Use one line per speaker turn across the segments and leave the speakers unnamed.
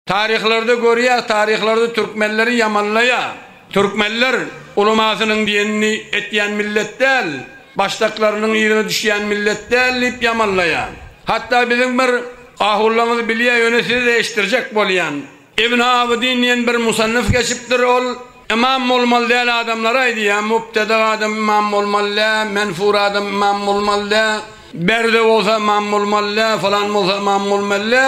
Taryhlarda görýäs taryhlarda türkmenleri ýamanlaýa türkmenler ulamasynyň diýenini etýän millet däl başdaklarynyň yzyna düşýän millet däl diýip ýamanlaýa hatda biziň bir ahullaňyz bilýä ýöne size-de eşitdirjek bolýan ibn abydin diýen bir musannyf geçipdir ol Ymam bolmaly däl adamlara aýdýan mubteda adam ymam bolmaly dä menfur adam ymam bolmaly dä berde bolsa ymam bolmaly dä falan bolsa ymam bolmaly dä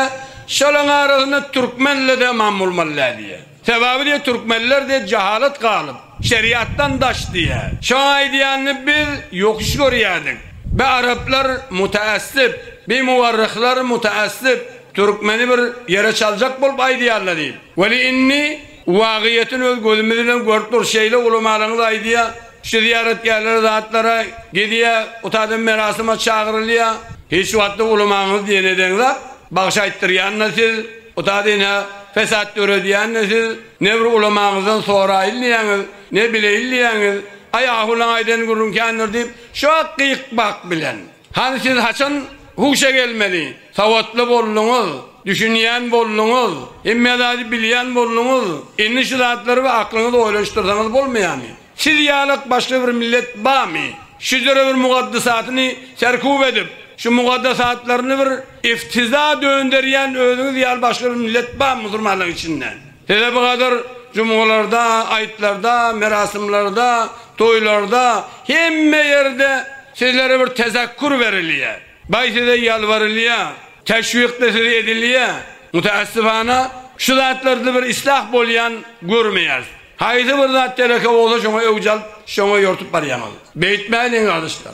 şolaň arasynda türkmenle de ymam bolmaly dä diýýär sebabi diýýär türkmenler diýýär jahalat galyp şeriatdan daş diýýär şoň aýdýanyny biz ýokuş görýädik bi araplar mutaassyp bi muwarryhlar mutaassyp türkmeni bir ýere çaljak bolup aýdýarlar diýip weli inni Wagyýetini öz gözümiz bilen görüp durus şeýle ulamalaňyz aýdýa şu zyýaratgärlere zatlara gidýä ot adam merasyma çagyrylýa. Hiç wagtda ulamaňyz diýen eden zat bagşy aýtdyrýanda siz ot ady ne fesat döredýände siz ne bir ulamaňyzdan soraýyn diýýäňiz ne bileýin diýýäňiz aý ahulyň aýdan gürrüň kändir diýip şo gyk bak bilen Hany siz haçan huşa gelmeli? Sawatly bolduňyz, düşünýän bolduňyz, hemme zady bilýän bolduňyz, indi şu zatlary we aklyňyzy oýlanyşdyrsaňyz bolmaýamy? Siz ýalak başga bir millet bamy? Şu döre bir mugadasatyny serkup edip, şu mugadasatlaryny bir iftiza dönderýän özüňiz ýaly başga bir millet bamy musulmanlaryň içinde? Hele bu gadyr jumgalarda, aýtlarda, merasymlarda, toýlarda, hemme ýerde sizlere bir tezekkur berilýä. Baý size ýalbarylýa, teşwikde siz edilýä. Mutaassifana, şu zatlarda bir islah bolýan görmeýäris. Haýsy bir zat teleke bolsa şoňa öwüç alyp, şoňa ýortup barýaňyz. Beýtmäliň gardaşlar.